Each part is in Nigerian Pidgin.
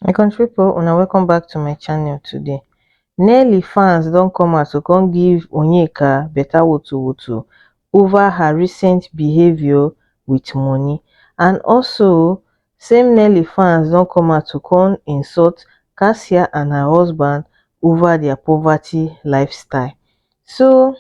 My country people, una welcome back to my channel today. Nelly fans don come out to come give Onyeka better woto woto over her recent behavior with money. And also, same Nelly fans don come out to come insult Cassia and her husband over their poverty lifestyle. So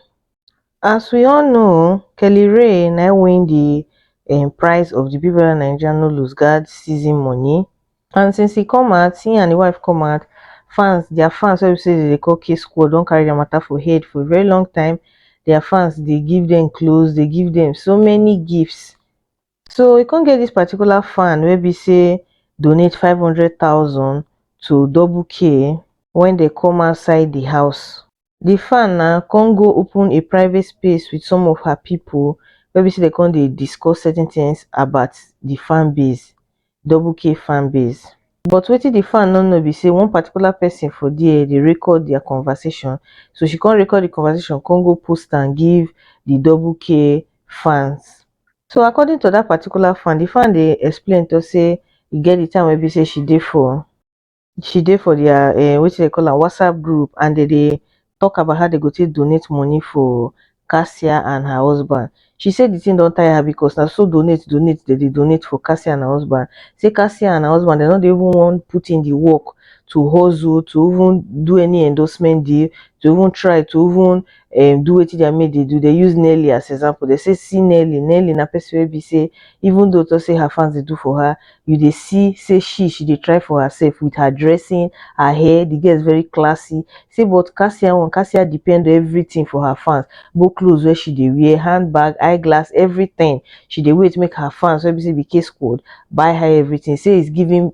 as we all know o, Kelly Rae na im win the um, prize of the Big Brother Naija No Lose Guard season money and since he come out, he and the wife come out, fans, their fans wey be say they dey call K Squad don carry their matter for head for a very long time, their fans dey give them clothes, dey give them so many gifts. So e come get this particular fan wey be say donate five hundred thousand to Double K when they come outside the house. the fan na come go open a private space with some of her pipo wey be sey dem come dey discuss certain things about the fan base, double k fan base. But wetin the fan no know be sey one particular person for there dey record their conversation, so she come record the conversation come go post am give the double k fans. So according to dat particular fan, the fan dey explain talk sey e get the time wey be sey she dey for. she dey for their um wetin dem dey call am whatsapp group and dem dey talk about how dem go take donate money for Kasia and her husband. She say the thing don tire her because na so donate donate dem dey donate for Kasia and her husband. Say Kasia and her husband dem no dey even wan put in the work to hustle to even do any endorsement deal to even try to even um do wetin their mate dey do, dey use Nelly as example, dey say see Nelly, Nelly na person wey be say even though talk say her fans dey do for her, you dey see say she she dey try for herself with her dressing, her hair, the girl is very classy, say but Kasia own, Kasia depend on everything for her fans, both clothes wey she dey wear, hand bag, eye glass, everything, she dey wait make her fans wey be say be K-squad buy her everything, say it's giving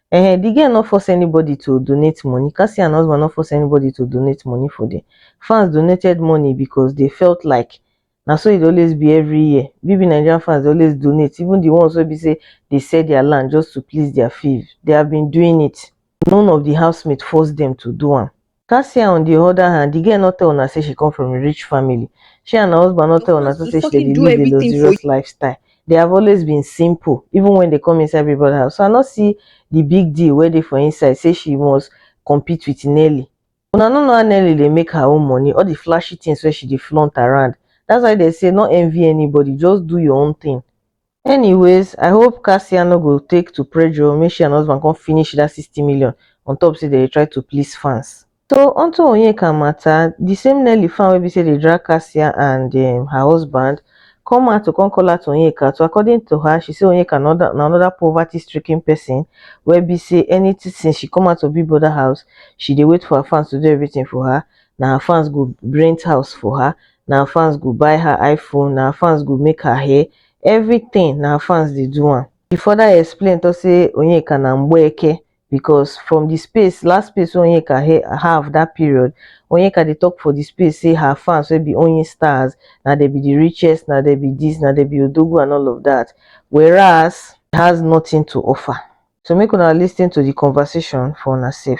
um the girl no force anybody to donate money, Cassie and her husband no force anybody to donate money for them. Fans donated money because they felt like na so e dey always be every year. BB Nigerian fans dey always donate, even the ones wey be say they sell their land just to please their faves. They have been doing it. None of the housemates forced them to do am. Kasia on di oda hand, di girl no tell una say she come from a rich family, she and her husband no tell una too say she dey live a luxurious lifestyle, dey have always been simple even wen dey come inside Big Brother house, so I no see di big deal wey dey for inside say she must compete with Nelly. Una no know how Nelly dey make her own money, all di flashy tins wey she dey flaunt around, dats why dem say no envy anybody, just do your own tin. Anyways, I hope Cassia no go take to pressure make she and husband come finish that 60 million on top say they try to please fans. So onto Onyeka matter, the same Nelly fan wey be say dey drag Cassia and um, her husband come out to come call out Onyeka. So according to her, she say Onyeka na another, na another poverty-stricken person wey be say anything since she come out of Big Brother house, she dey wait for her fans to do everything for her. Na her fans go rent house for her, na her fans go buy her iPhone, na her fans go make her hair, everything na fans dey do am. He further explain talk say Onyeka na Mgbeke because from the space last space wey Onyeka he have that period, Onyeka dey talk for the space say her fans wey be Onyi stars na dem be the richest, na dem be this, na dem be Odogwu and all of that whereas he has nothing to offer. So make una lis ten to the conversation for una sef.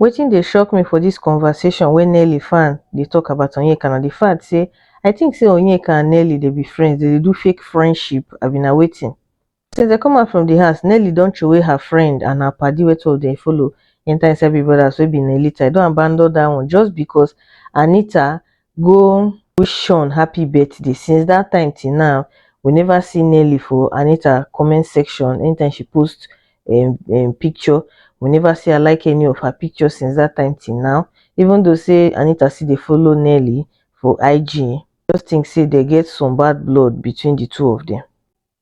Wetin dey shock me for this conversation wey Nelly fan dey talk about Onyeka na the fact say I think say Onyeka and Nelly dey be friends, dem dey do fake friendship abi na wetin? Since dem come out from the house, Nelly don throway her friend and her paddy wey two of dem follow enter inside Big Brothers wey be Nelita, e don abandon that one just because Anita go wish Sean happy birthday. Since that time till now, we never see Nelly for Anita comment section. Anytime she posts um, um, picture, we never see her like any of her pictures since that time till now. Even though say Anita see they follow Nelly for IG, just think say they get some bad blood between the two of them.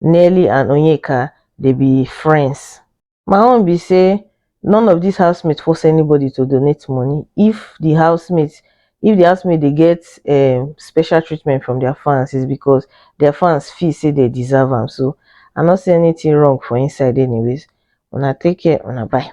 Nelly and Onyeka dey be friends. My own be say none of dis housemates force anybody to donate money if the housemates if the housemates dey get um special treatment from their fans is because their fans feel say they deserve am so I no see anything wrong for inside anyways una take care una bye.